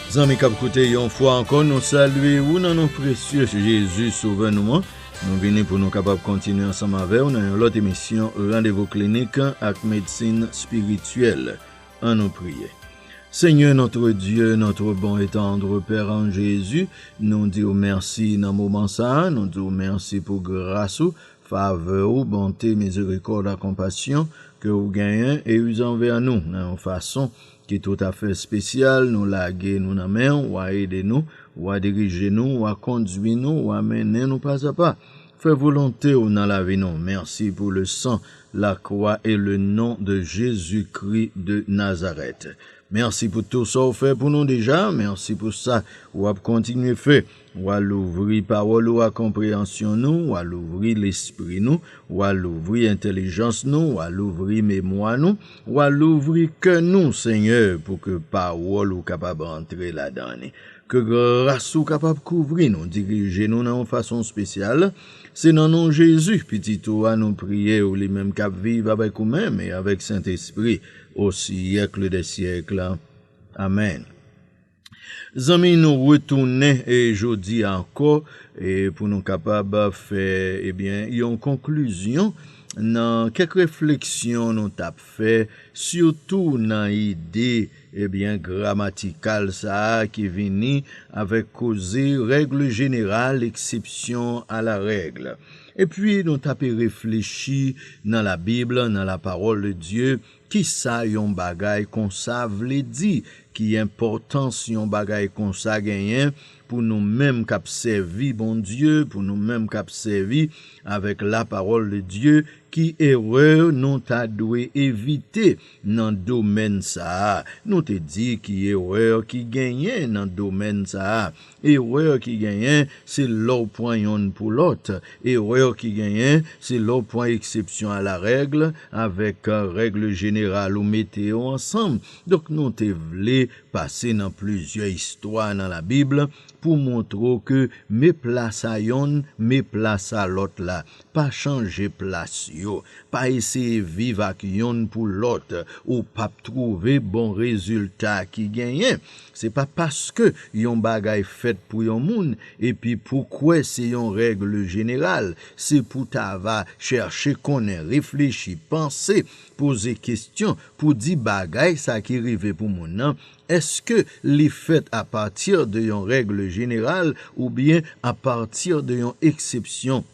Zanmi kap koute yon fwa ankò nou salye ou nan non presye Jezi sovè nou an. Nou vini pou nou kapab kontinye ansanm avèw nan yon lòt emisyon randevou klinik ak medsin spirityèl. An nou priye. Senyè notre Dye, notre bon et tendre Père an Jezi, nou diw mèsi nan moman sa, nou diw mèsi pou gras ou, Favè ou, bonte, mizerikòd ak konpasyon ke ou genyen e uze anvè nou nan yon fason ki toutafè espesyal, nou lage nou nan men ou, wa ede nou, wa dirije nou, wa kondwi nou, wa mennen nou pazapa. Fè volonte ou nan lavi nou. Mèsi pou le san, la kwa e le non de Jezi Kri de Nazarèt. Mèsi pou tou sa ou fè pou nou deja, mèsi pou sa ou ap kontinye fè. W a louvri pawòl ou a konpreyansyon nou, w a louvri lespri nou, w a louvri entelijans nou, w a louvri memwa nou, w a louvri kè nou, Senyè, pou ke pawòl ou kapab antre ladan li. Ke gras ou kapab kouvri nou, dirije nou nan yon fason spesyal. Se nan non Jezi, Pitit ou a, nou priye ou, li menm k'ap viv avèk ou menm e avèk Sentespri o syèkle dè syèkle. Amèn. Zanmi nou retounen jodi a ankò pou nou kapab fè ebyen yon konklizyon nan kèk refleksyon nou tap fè sitou nan ide ebyen gramatikal sa a ki vini avèk koze règle jeneral eksepsyon a la règle epi nou tape reflechi nan la bib nan la parole de Dieu Kisa yon bagay konsa vle di? Ki enpòtans yon bagay konsa genyen pou nou menm k ap sèvi Bondye, pou nou menm k ap sèvi avèk lapawòl de Dye? Ki erè nou ta dwe evite nan domèn sa a? Nou te di ki erè ki genyen nan domèn sa a. Erreur ki genyen se lè w pran yonn pou lòt. Erreur ki genyen se lè w pran exception à la règle avèk règle générale ou mete yo ansanm. Donk nou te vle pase nan plizyè istwa nan la Bible pou montre w ke me plas a yonn, me plas a lòt la. Pa chanje plas yo. Pa eseye viv ak yonn pou lòt. Ou pap trouve bon rezilta ki genyen. Se pa paske yon bagay fèt pou yon moun epi pou kwè se yon règle jeneral, se pou ta va chèche konnen, reflechi, panse, poze kestyon pou di bagay sa ki rive pou moun nan, èske li fèt a partir de yon règle jeneral oubyen a partir de yon eksepsyon.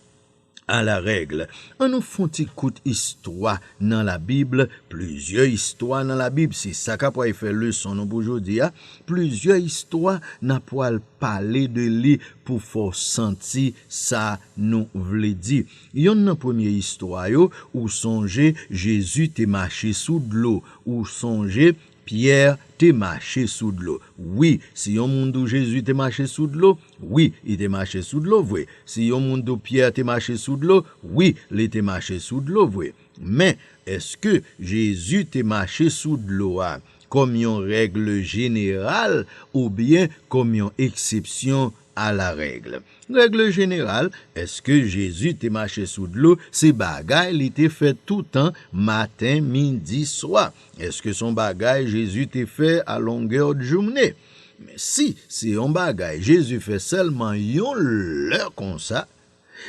A la règle, an nou fon ti kout istwa nan la bible, plizyè istwa nan la bible, se sa ka pway fè leson nou pou jodi a, plizyè istwa na pwal pale de li pou fè w santi sa nou vle di. Yonn nan premye istwa yo, ou sonje Jezi te mache sou dlo, ou sonje Pyè te mache sou dlo. Wi, si yon moun di w Jezi te mache sou dlo, wi, li te mache sou dlo vre. Si yon moun di w Pyè te mache sou dlo, wi, li te mache sou dlo vre. Men, èske Jezi te mache sou dlo a kòm yon règle jeneral oubyen kòm yon eksepsyon A la règle. Règle jeneral, èske Jezi te mache sou dlo se bagay li te fè toutan, maten, midi, swa? Èske son bagay Jezi te fè a longueur d'journe? Men si se yon bagay Jezi fè sèlman yon lè konsa,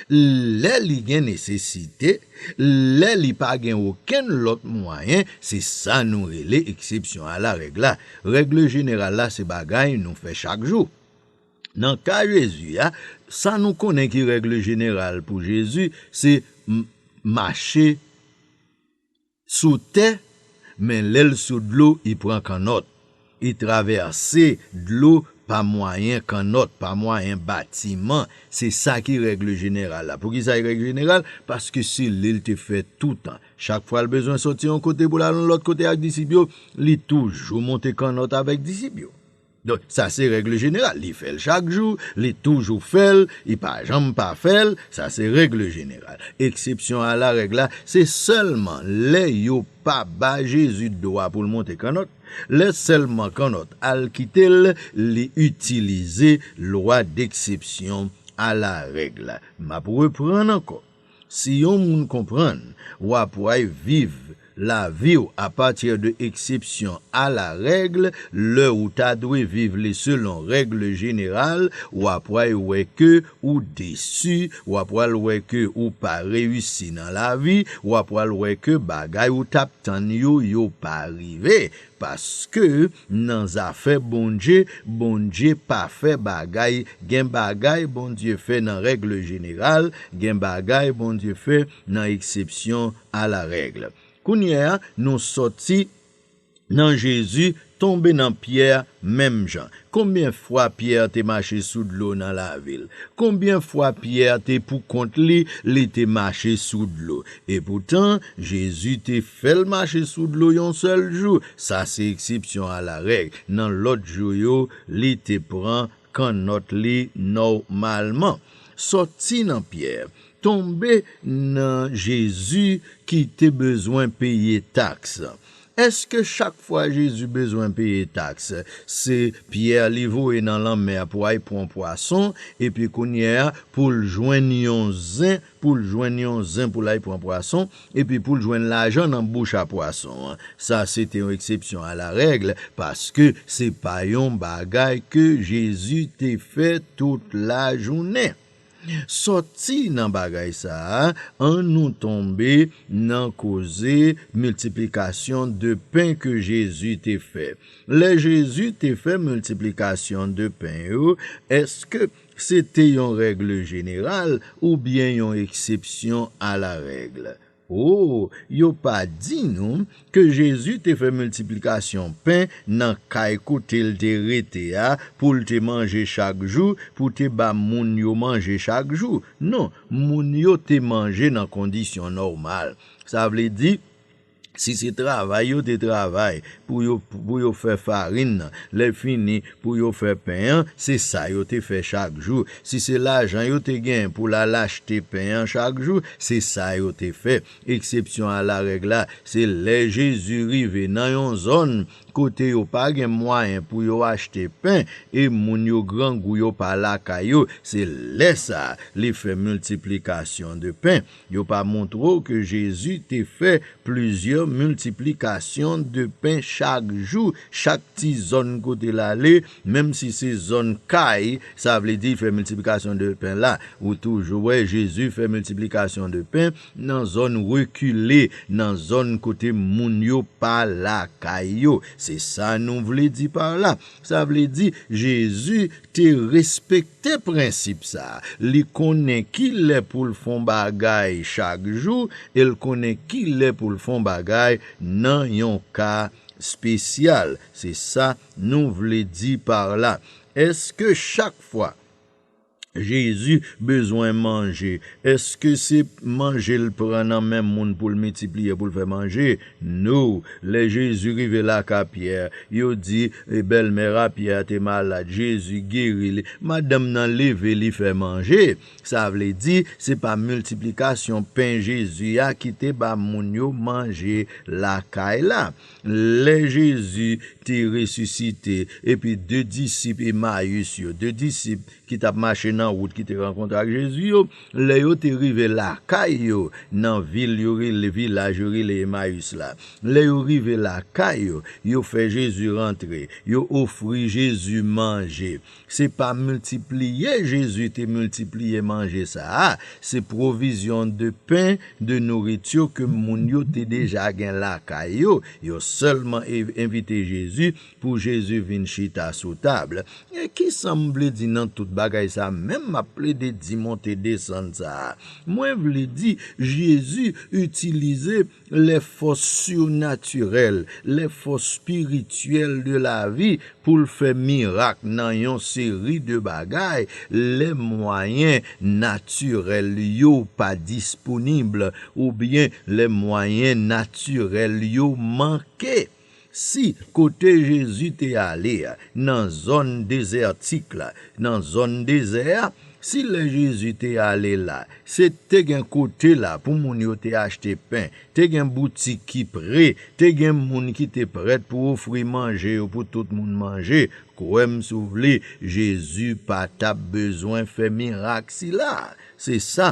lè li gen nesesite, lè li pa gen okenn lòt mwayen, se sa nou rele eksepsyon a la règle la. Règle jeneral la se bagay nou fè chak jou. Nan ka Jezi a, sa nou konnen ki règle jeneral pou Jezi, se m mache sou tè, men lè l sou dlo, i pran kannòt. I travèse dlo pa mwayen kannòt, pa mwayen batiman. Se sa ki règle jeneral la. Poukisa i règle jeneral? Paske se li l te fè toutan. Chak fwa l bezwen soti yon kote pou l al yon lòt kote ak disip yo, li toujou monte kannòt avèk disip yo. Donk sa se règle jeneral, li fèl chak jou, li toujou fèl, li pa janm pa fèl, sa se règle jeneral. Eksepsyon a la règle la, se sèlman lè yo pa ba Jezi dwa pou l monte kannòt, lè sèlman kannòt al kite l, li itilize lwa deksepsyon a la règle la. M ap reprann ankò. Si yon moun konprann w ap way viv lavi w a pati de eksepsyon a la règl lè ou ta dwe viv li selon règl jeneral w ap way wè ke ou desi w ap wal wè ke ou pa reyisi nan lavi w ap wal wè ke bagay ou t ap tann yo yo pa rive Paske nan zafè Bondye, Bondye pa fè bagay, gen bagay Bondye fè nan règle jeneral, gen bagay Bondye fè nan eksepsyon a la règle. Kounye a nou sòti nan Jezi tonbe nan Pyè menm jan. Konbyen fwa Pyè te mache sou dlo nan lavi l? Konbyen fwa Pyè te poukont li, li te mache sou dlo? Epoutan, Jezi te fè l mache sou dlo yon sèl jou, sa se eksepsyon alarèg. Nan lòt jou yo, li te pran kannòt li nòmalman. Sòti nan Pyè, Tonbe nan Jezi ki te bezwen peye taks. Èske chak fwa Jezi bezwen peye taks, se Pyè li voye nan lanmè a pou ay pwan pwason, epi kounye a pou l jwenn yon zen pou l jwenn yon zen pou l ay pwan pwason, epi pou l jwenn lajan nan bouch a pwason an? Sa se te yon eksepsyon a la règle, paske se pa yon bagay ke Jezi te fè tout lajounen. Sòti nan bagay sa a, an nou tonbe nan koze miltiplikasyon de pen ke Jezi te fè. Lè Jezi te fè miltiplikasyon de pen yo, èske se te yon règle jeneral oubyen yon eksepsyon a la règle? O, yo pa di nou ke Jezi te fè miltiplikasyon pen nan kay kote l te rete a pou l te manje chak jou, pou te ba moun yo manje chak jou. Non, moun yo te manje nan kondisyon nòmal. Sa vle di, si se travay yo te travay pou yo fè farin nan, lèfini, Pou yo fè pen an, se sa yo te fè chak jou. Si se lajan yo te gen pou l al achte pen an chak jou, se sa yo te fè. Eksepsyon a larèg la, se lè Jezi rive nan yon zòn kote yo pa gen mwayen pou yo achte pen e moun yo grangou yo pa lakay yo, se lè sa a li fè miltiplikasyon de pen. Yo pa montre w ke Jezi te fè plizyè miltiplikasyon de pen chak jou, chak ti zòn kote l ale, menm si se zòn kay, sa vle di fè miltiplikasyon de pen la. Ou toujou wè Jezi fè miltiplikasyon de pen nan zòn rekile, nan zòn kote moun yo pa lakay yo. Se sa nou vle di par la. Sa vle di, Jezi te respekte prensip sa a. Li konnen ki lè pou l fè yon bagay chak jou e l konnen ki lè pou l fè yon bagay nan yon ka espesyal. Se sa nou vle di par la. Èske chak fwa Jezi bezwen manje, eske se manje l pran nan men moun pou l miltipliye pou l fè manje? No! Lè Jezi rive lakay Pyè, yo di, Bèlmè a Pyè a te malad. Jezi geri li. Madanm nan leve li fè manje. Sa vle di, se pa miltiplikasyon pen Jezi a ki te ba moun yo manje lakay la. Lè Jezi te resisite, epi de disip Emayis yo, de disip ki t ap mache nan wout ki te rankontre ak Jezi yo, lè yo te rive lakay yo nan vil yo rele, vilaj yo rele Emayis la, lè yo rive lakay yo, yo fè Jezi rantre, yo ofri Jezi manje. Se pa miltipliye Jezi te miltipliye manje sa a, se pwovizyon de pen, de nouritur ke moun yo te deja gen lakay yo. Yo sèlman envite Jezi pou Jezi vin chita sou tab. E kisa m vle di nan tout bagay sa a menm m ap plede di monte desann sa a? Mwen vle di Jezi itilize lè fòs surnatirèl, lè fòs spirityèl de lavi pou l fè mirak nan yon seri de bagay, lè mwayen natirèl yo pa disponib oubyen lè mwayen natirèl yo manke. Si, kote Jezi te ale a, nan zòn dezètik la, nan zòn dezè a, si lè Jezi te ale la, se te gen kote la pou moun yo te achte pen, te gen boutik ki pre, te gen moun ki te prèt pou ofri manje yo pou tout moun manje, kwè m si w vle, Jezi pa t ap bezwen fè mirak sila a. Se sa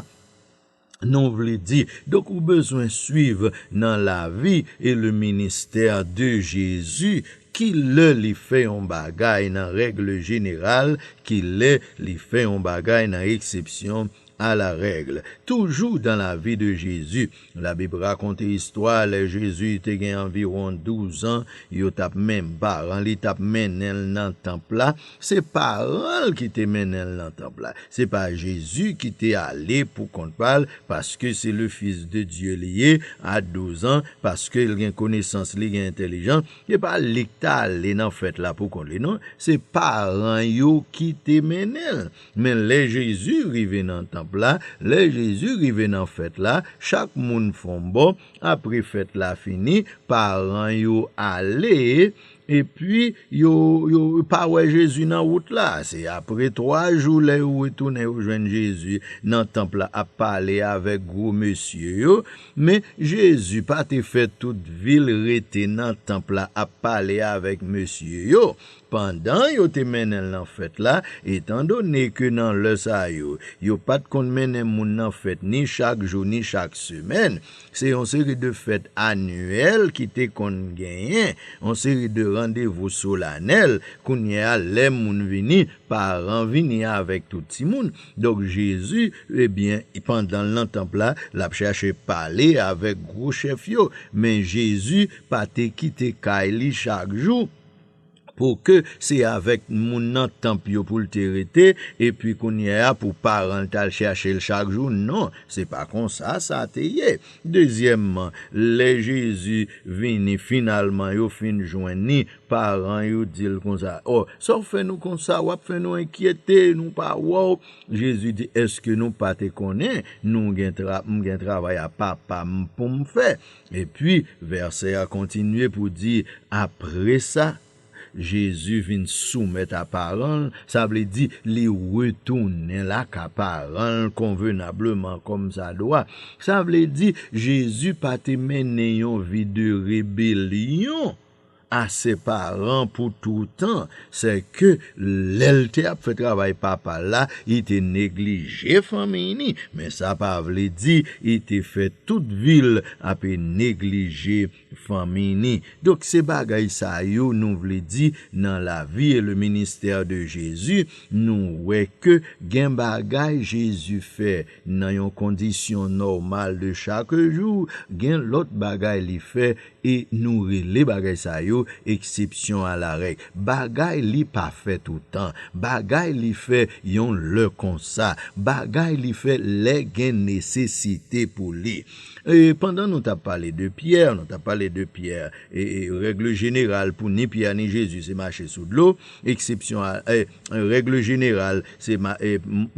Nou vle di donk ou bezwen swiv nan lavi e le ministère de Jésus ki lè li fè yon bagay nan règle générale ki lè li fè yon bagay nan exception à la règle. Toujou dans la vie de Jésus, la Bible rakonte istwa lè Jésus te gen anviron 12 ans yo tap men paran li tap mennenl nan temple la Se paran l ki te mennen l nan tanp la. Se pa Jezi ki te ale pou kont pa l paske se le Fis de Dye li ye a douzan, paske l gen konesans, li gen entelijans. Se pa li ki t ale nan fèt la pou kont li non. Se paran yo ki te mennen l. Men lè Jezi rive nan tanp la, lè Jezi rive nan fèt la, chak moun fon bò. Apre fèt la fini, paran yo ale. Epi, yo, yo pa wè Jezi nan wout la. Se apre twa jou lè yo retounen yo jwenn Jezi nan tanp la ap pale avèk gwo mesye yo. Men, Jezi pa te fè tout vi l rete nan tanp la ap pale avèk mesye yo. Pandan yo te mennen l nan fèt la, etandone ke nan lè sa yo, yo pa t konn mennen moun nan fèt ni chak jou ni chak semèn, Se yon seri de fèt anyèl ki te konn genyen, yon seri de randevou solanèl, kounye a lè moun vini, paran vini avèk tout timoun. Donk Jezi, ebyen, pandan l nan tanp la, l ap chache pale avèk gwo chèf yo, men Jezi pa te kite kay li chak jou. Pou ke se avèk moun nan tanp yo pou l te rete, epi kounyea pou paran l t al chache l chak jou? Non, se pa konsa sa te ye. Dezyèmman, lè Jezi vini finalman, yo fin jwenn ni, paran yo di l konsa, O, sa w fè nou konsa? W ap fè nou enkyete, nou pa wè w? Jezi di, Èske nou pa te konnen nou gen m gen travay a Papa m pou m fè? Epi, vèsè a kontinye pou di, apre sa, Jezi vin soumèt a paran l, sa vle di, li retounen laka paran l konvenableman kòmsadwa. Sa vle di, Jezi pa te mennen yon vi de rebelyon. a se paran pou toutan sè ke lèl te ap fè travay papal la i te neglije fanmiy ni men sa pa vle di i te fè tout vil ape neglije fanmiy ni donk se bagay sa yo nou vle di nan lavi e le ministè de jezi nou wè ke gen bagay jezi fè nan yon kondisyon nòmal de chak jou gen lòt bagay li fè E nou rele bagay sa yo eksepsyon a la règ. Bagay li pa fè toutan. Bagay li fè yon lè konsa. Bagay li fè lè gen nesesite pou li. E pandan nou t ap pale de Pyè, nou t ap pale de Pyè, e règle jeneral pou ni Pyè ni Jezi se mache sou dlo, eksepsyon a, e. An règle jeneral, se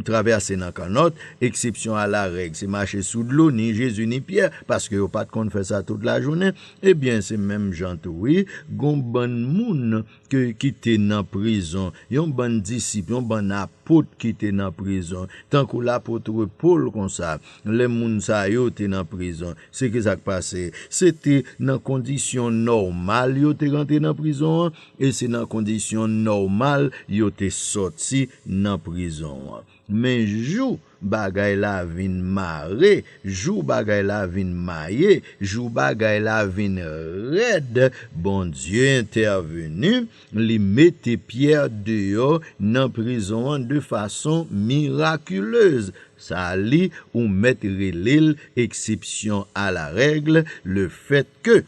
travèse nan kannòt, eksepsyon a la règ, se mache sou dlo, ni Jezi ni Pyè, paske yo pa t konn fè sa tout lajounen, e byen se menm jan tou wi, gon bann moun ki te nan prizon, yon bann disip, yon bann apot ki te nan prizon, tankou lapotre Pol konsa, lè moun sa yo te nan prizon, se ki sa k pase? Se te nan kondisyon nòmal yo te rantre nan prizon an, E se nan kondisyon nòmal yo te sòti nan prizon an. Men jou bagay la vin mare, jou bagay la vin maye, jou bagay la vin rèd, Bondye entèveni, li mete Pyè deyò nan prizon an de fason mirakilez. Sa li ou mèt rele l eksepsyon a la règle, lefètke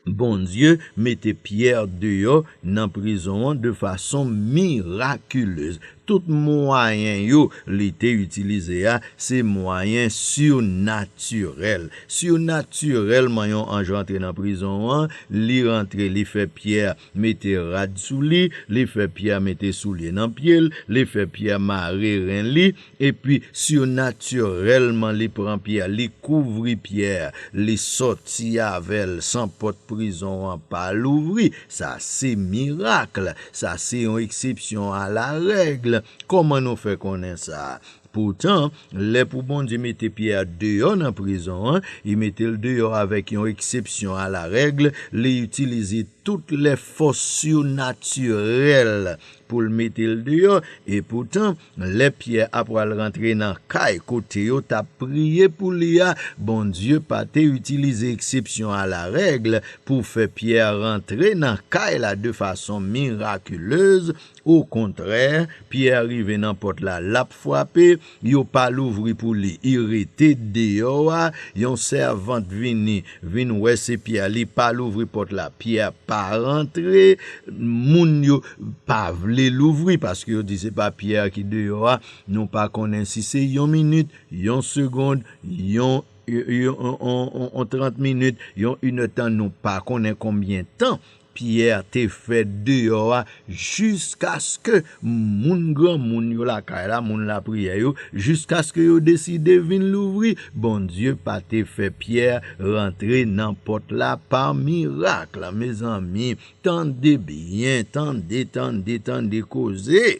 Bondye mete Pierre deyò nan prizon an de fason miraculez. Tout mwayen yo li te itilize a se mwayen surnaturel. Surnaturelman yon anj rantre nan prizon an, li rantre li fè Pierre mete rad sou li, li fè Pierre mete soulye nan pye l, li fè Pierre mare ren li, Epi surnaturèlman li pran Pyè, li kouvri Pyè, li sòti avè l san pòt prizon an pa louvri. Sa se miracle. Sa se yon eksepsyon a la règle. Kòman nou fè konnen sa? Poutan, lè pou Bondye mete Pyè deyò nan prizon an, I mete l deyò avèk yon eksepsyon a la règle, li itilize tout lè fòs surnaturèl pou l mete l deyò. Epoutan, Lè Pyè apral rantre nan kay kote yo t ap priye pou li a, Bondye pa te itilize eksepsyon alarèg pou fè Pyè rantre nan kay la de fason mirakilez. Okontrè, Pyè rive nan pòt la, l ap frape, yo pa louvri pou li, i rete deyò a, yon sèvant vini Vin wè se Pierre li pa louvri pòt la Pierre pa rantre moun yo pa vle louvri paske yo di se pa Pierre ki deyò a nou pa konnen si se yon minit yon segond yon yon 30 minit yon inèdtan nou pa konnen konbyen tan Pyè te fèt deyò a jiskaske moun granmoun yo lakay la, moun lapriyè yo, jiskaske yo deside vin louvri. Bondye pa te fè Pyè rantre nan pòt la pa mirakl. Mezanmi, tande byen, tande, tande, tande koze!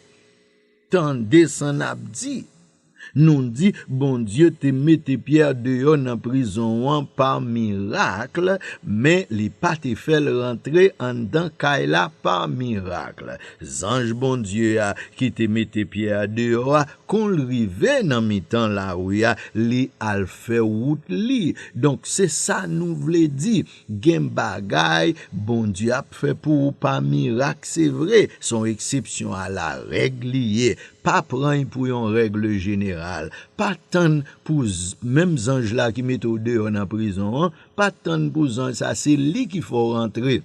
Tande san nap di. Nou di Bondye te mete Pierre deyò nan prizon an pa miracle men li pa te fèl rantre anndan kay la pa miracle. Zanj Bondye a ki te mete Pierre deyò a kon l rive nan mitan lari a li al fè wout li. Donk se sa nou vle di. Gen bagay Bondye ap fè pou ou pa mirak se vre, son eksepsyon a la règ li ye, pa pran'y pou yon règle jeneral, pa tann pou menm zanj la ki mete w deyò nan prizon an, pa tann pou zanj sa se li ki fè w rantre.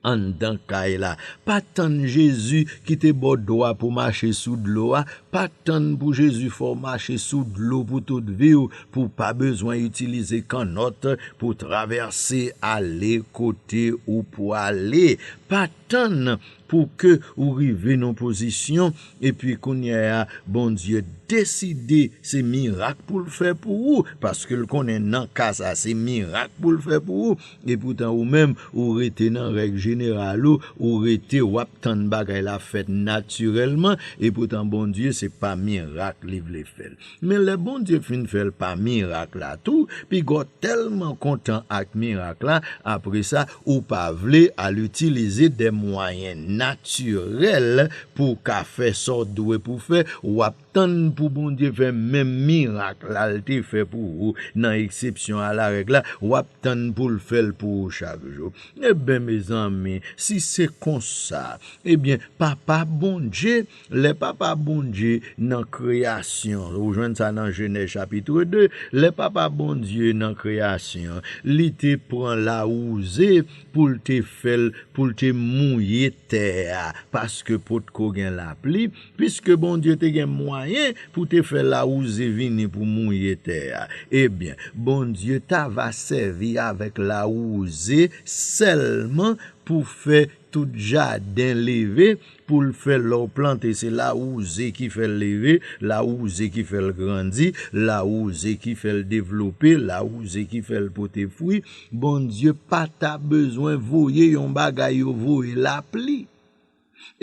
anndan kay la, pa tann Jezi kite bò do a pou mache sou dlo a, pa tann pou Jezi fè w mache sou dlo pou tout vi w pou w pa bezwen itilize kannòt pou w travèse ale kote ou pwale, pa tann pou ke ou rive nan pozisyon epi kounyè a Bondye deside se mirak pou l fè pou ou, paske l konnen nan ka sa se mirak pou l fè pou ou, Epoutan ou menm ou rete nan règ jeneral ou, ou rete wap tann bagay la fèt natirèlman, epoutan Bondye se pa mirak li vle fèl. Men lè Bondye fin fèl pa mirak la tou, pigaw tèlman kontan ak mirak la, apresa ou pa vle al itilize de mwayen natirèl pouw ka fè sa w dwe pou fè, wap. Tann pou Bondye fè menm mirak la l te fè pou ou nan eksepsyon a larèg la, w ap tann pou l fè l pou ou chak jou. Eben, mezanmi, si se konsa, ebyen, Papa Bondye, lè Papa Bondye nan kreyasyon, ou jwenn sa nan Jenèz chapitre 2, lè Papa Bondye nan kreyasyon, li te pran lawouze pou l te fè l, pou l te mouye tè a, paske potko gen lapli, Piske Bondye te gen mwayen pou te fè lawouze vini pou mouye tè a, ebyen, Bondye ta va sèvi avèk lawouze sèlman pou fè tout jaden leve pou l fè lè w plante se lawouze ki fè l leve, lawouze ki fè l grandi, lawouze ki fè l devlope, lawouze ki fè l pote fwi. Bondye pa ta bezwen voye yon bagay yo voye lapli.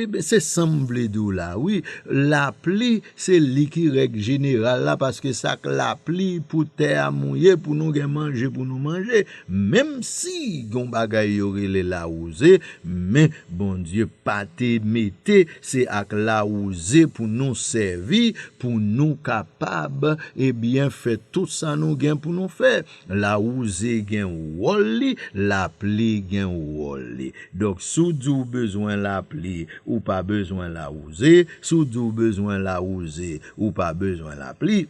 Ebyen se sam vle di w la wi, lapli se li ki règ jeneral la paske sa k lapli pou tè a mouye pou nou gen manje pou nou manje menm si gen yon bagay yo rele lawouze men Bondye pa te mete se ak lawouze pou nou sèvi pou nou kapab ebyen fè tout sa nou gen pou nou fè Lawouze gen wòl li, lapli gen wòl li. Donk si w di w bezwen lapli, ou pa bezwen lawouze. Si w di w bezwen lawouze, ou pa bezwen lapli.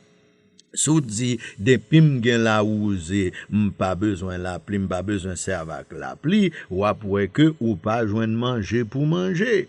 Si w di depi m gen lawouze, m pa bezwen lapli, m pa bezwen sèvi ak lapli, w ap wè ke ou pa jwenn manje pou manje.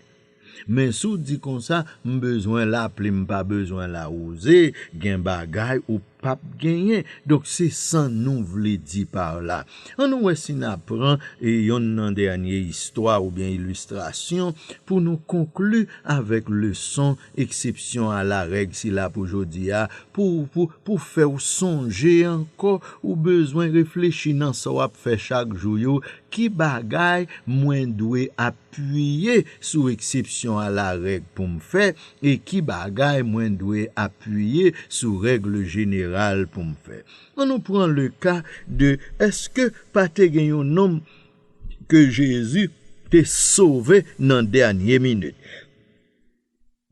Men si w di konsa, m bezwen lapli m pa bezwen lawouze, gen bagay ou pap genyen. Donk se sa nou vle di par la. An nou wè si na pran yonn nan dènye istwa oubyen ilistrasyon pou nou konkli avèk leson eksepsyon a la règ sila pou jodi a, pou, pou, pou fè w sonje ankò ou bezwen reflechi nan sa w ap fè chak jou yo, ki bagay mwen dwe ap. Piye sou eksepsyon a la règ pou m fè e ki bagay mwen dwe apiye sou règle jeneral pou m fè. An nou pran le ka de èske pa te gen yon nonm ke Jezi te sove nan dènye minit.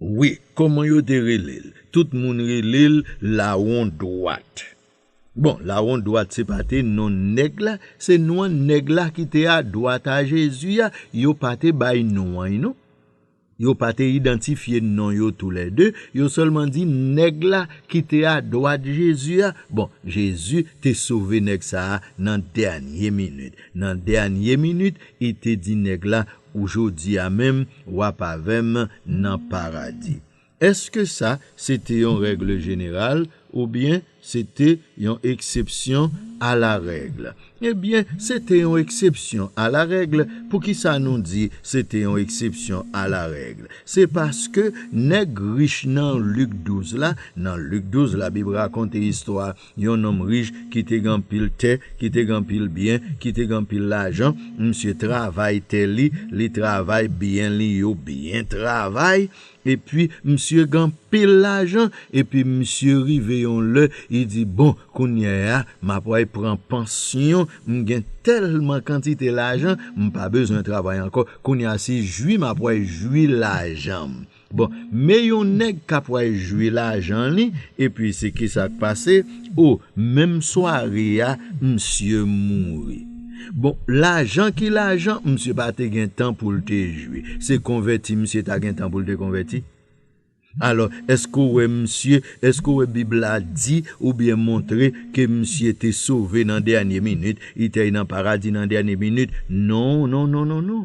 Wi koman yo te relel. Tout moun relel lawon dwat. Bon lawon dwat se pa te non neg la se non neg la ki te a dwat a jezi a yo pa te bay non anh non. Yo pa te idantifye non yo tou lè 2 yo selman di neg la ki te a dwat jezi a bon jezi te sove neg sa a nan dènye minit nan dènye minit i te di neg la Ou jodi a menm w ap avè m nan Paradi. Èske sa se te yon règle jeneral oubyen se te yon eksepsyon a la règle? Ebyen, se te yon eksepsyon a la règle. Poukisa nou di se te yon eksepsyon a la règle? Se paske nèg rich nan Lik 12 la, nan Lik 12 la Bib rakonte istwa Yon nonm rich ki te gen anpil tè, ki te gen anpil byen, ki te gen anpil lajan, misye travay tè li, li travay byen li yo byen travay, epi misye gen anpil lajan, epi misye rive yon lè, li di, bon, kounye a, m ap wè pran pansyon, m gen tèlman kantite lajan, m pa bezwen travay ankò, kounye a se jwi m ap wè jwi lajan m. Bon men yon nèg kap way jwi lajan li epi se kisak pase oh menm sware a misye mouri bon lajan ki lajan misye pa te gen tan poul te jwi se konvèti misye ta gen tan poul te konvèti alò èske ou wè misye èske ou wè bib la di ou byen montre ke misye te sove nan dènye minit li te nan paradi nan dènye minit non non non non non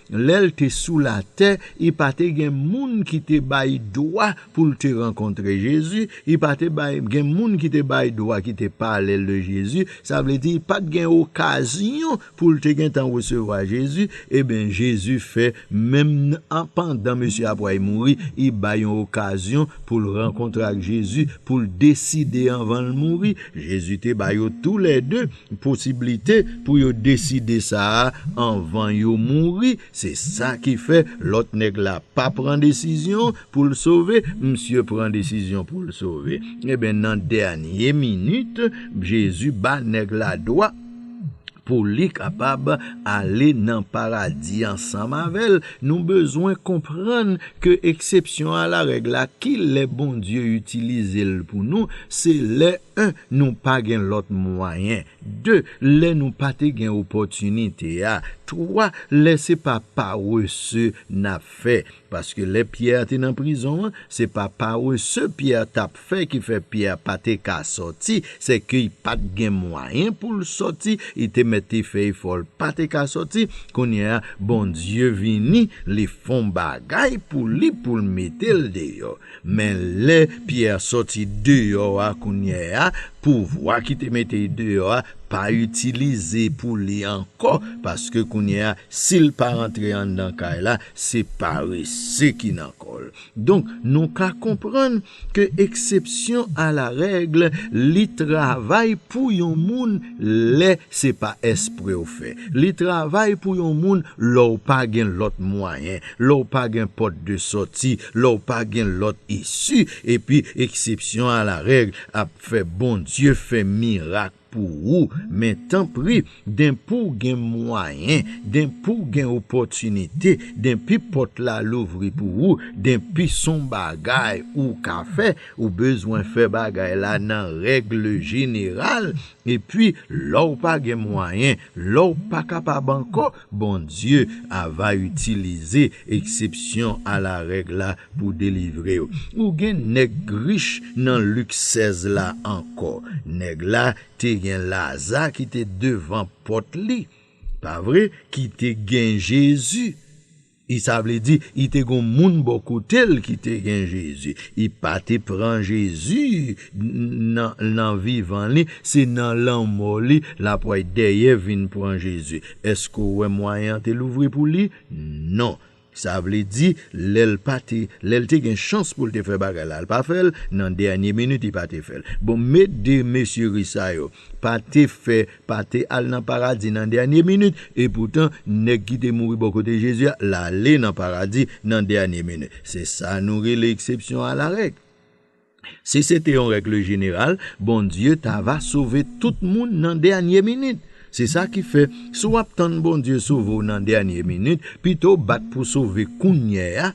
Lè l te sou latè, i pa te gen moun ki te bay dwa pou l te rankontre Jezi, i pa te bay gen moun ki te bay dwa ki te pale l de Jezi, sa vle di pa t gen okazyon pou l te gentan resevwa Jezi, eben Jezi fè menm an pandan mesye a pway mouri, i bay yon okazyon pou l rankontre ak Jezi, pou l deside anvan l mouri, Jezi te ba yo tou lè de. posiblite pou yo deside sa a anvan yo mouri se sa ki fè lòt nèg la pa pran desizyon pou l sove misye pran desizyon pou l sove enben nan dènye minit Jezi ba nèg la dwa pou li kapab ale nan paradi ansanm avè l nou bezwen konprann ke eksepsyon a la règ la kilè Bondye itilize l pou nou se lè. 1 nou pa gen lòt mwayen 2 lè nou pa te gen opòtinite a 3 lè se pa parese n ap fè paske lè Pyè te nan prizon an se pa parese Pyè t ap fè ki fè Pyè pa te ka sòti se ke y pa t gen mwayen pou l sòti y te mèt te fè efò l pa te ka sòti kounye a Bondye vini li fon bagay pou li pou l mete l deyò. Men lè Pyè sòti deyò a kounye a, pouvwa ki te mete l deyò a pa itilize pou li ankò, paske kounye a, si l pa rantre anndan kay la, se parese ki nan kò l. Donk, nou ka konprann ke eksepsyon alarègle li travay pou yon moun lè se pa espre w fè. Li travay pou yon moun lè w pa gen lòt mwayen. Lè w pa gen pòt de sòti, lè w pa gen lòt isi, epi eksepsyon a la règ ap fè Bondye fè mirak pou ou, men tanpri, denpi w gen mwayen, denpi w gen opòtinite, denpi pòt la louvri pou ou, denpi s on bagay ou ka fè, ou bezwen fè bagay la nan règle jeneral, epi lè w pa gen mwayen, lè w pa kapab ankò, Bondye a va itilize eksepsyon alarèg la pou delivre w. Ou gen nèg rich nan Lik 16 la ankò. Nèg la te gen Laza ki te devan pòt li, pa vre, ki te gen Jezi. I Sa vle di, i te gon moun bò kote l ki te gen Jezi. I pa te pran Jezi nan nan vivan li, se nan lanmò li l ap way dèyè vin pran Jezi. Èske w wè mwayen an te louvri pou li? Non. Sa vle di, lè l pa te, lè l te gen chans pou l te fè bagay la, l pa fè l, nan dènye minit i pa te fè l. Bon, met de mesye ris sa yo pa te fè pa te al nan paradi nan dènye minit, epoutan, nèg ki te mouri bò kote Jezi a, l ale nan paradi nan dènye minit. Se sa nou rele eksepsyon alarèg. Si se te yon règle jeneral, Bondye ta va sove tout moun nan dènye minit. Se sa ki fè, si w ap tann Bondye sove w nan dènye minit, pito w bat pou w sove kounyè a,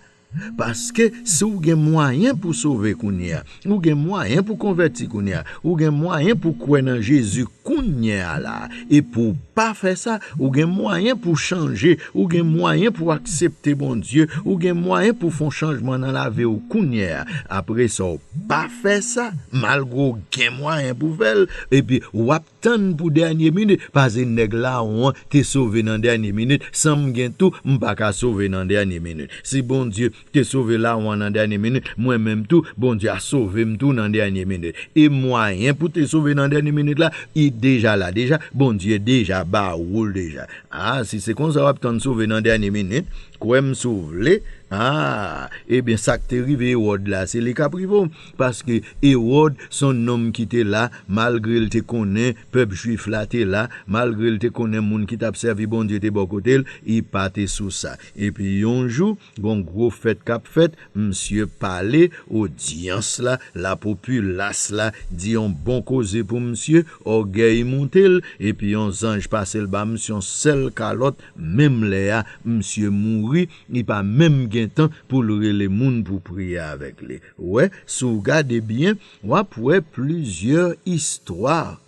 Paske si w gen mwayen pou sove kounye a, ou gen mwayen pou konvèti kounye a, ou gen mwayen pou kwè nan Jezi kounye a la a, e pou w pa fè sa, ou gen mwayen pou w chanje, ou gen mwayen pou w aksepte Bondye, ou gen mwayen pou w fè yon chanjman nan lavi w kounye a, apresa w pa fè sa, malgre w gen mwayen pou w fè l, epi w ap. Tann pou dènye minit pase nèg lawon an te sove nan dènye minit san m gen tou m pa ka sove nan dènye minit si Bondye te sove lawon an nan dènye minit mwen menm tou Bondye a sove m tou nan dènye minit e mwayen pou te sove nan dènye minit la i deja la deja Bondye deja ba ou l deja aa si se konsa w ap tann sove nan dènye minit kwè m si w vle aa ebyen sa k te rive Ewòd la se li k ap rive w. Paske, Ewòd s on nonm ki te la, malgre l te konnen pèp juif la te la, malgre l te konnen moun ki t ap sèvi Bondye te bò kote l, li pa te sou sa. Epi, yon jou, gen yon gwo fèt k ap fèt, misye pale, odyans la, lapopilas la, di yon bon koze pou misye, ògèy moute l, epi yon zanj pase l ba misye yon sèl kalòt, menm lè a, misye mouri, li pa menm gen tan pou l rele moun pou priye avèk li. Wè, si w gade byen, w ap wè plizyè istwa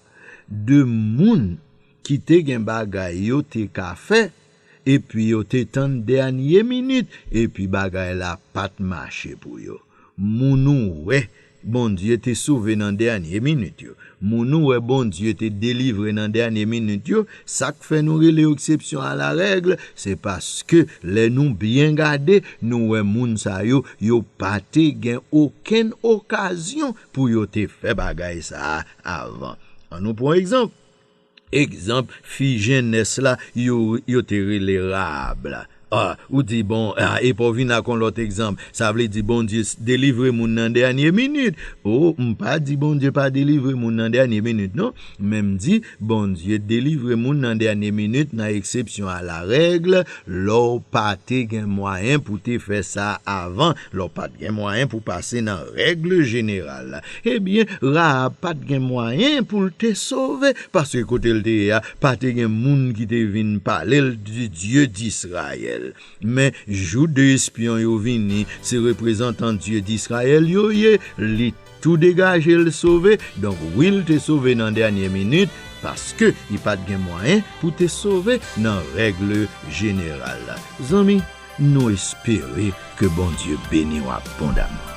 de moun ki te gen bagay yo te ka fè, epi yo te tann dènye minit, epi bagay la pa t mache pou yo. Moun ou wè Bondye te sove nan dènye minit yo? Moun ou wè Bondye te delivre nan dènye minit yo, sa k fè nou rele yo eksepsyon alarèg, se paske lè nou byen gade, nou wè moun sa yo, yo pa te gen okenn okazyon pou yo te fè bagay sa a avan. Annou pran egzanp. Egzanp, fi jennès la yo yo te rele Rahab la. A Ou di, Bon, a epa w vin ak yon lòt egzanp, sa vle di Bondye delivre moun nan dènye minit? O M pa di Bondye pa delivre moun nan dènye minit non, men M di Bondye delivre moun nan dènye minit nan eksepsyon alarèg, lè w pa te gen mwayen pou w te fè sa avan, Lè w pa t gen mwayen pou w pase nan règle jeneral, ebyen Rahab pa t gen mwayen pou l te sove, paske kote l te ye a pa te gen moun ki te vin pale l de Dye Disrayèl. Men, jou de espyon yo vini, se reprezantan Dye Disrayèl yo ye, li. Tou degaje l sove, donk wi l te sove nan dènye minit paske li pat gen mwayen pou te sove nan règle jeneral la. Zanmi nou espere ke Bondye beni w abondaman.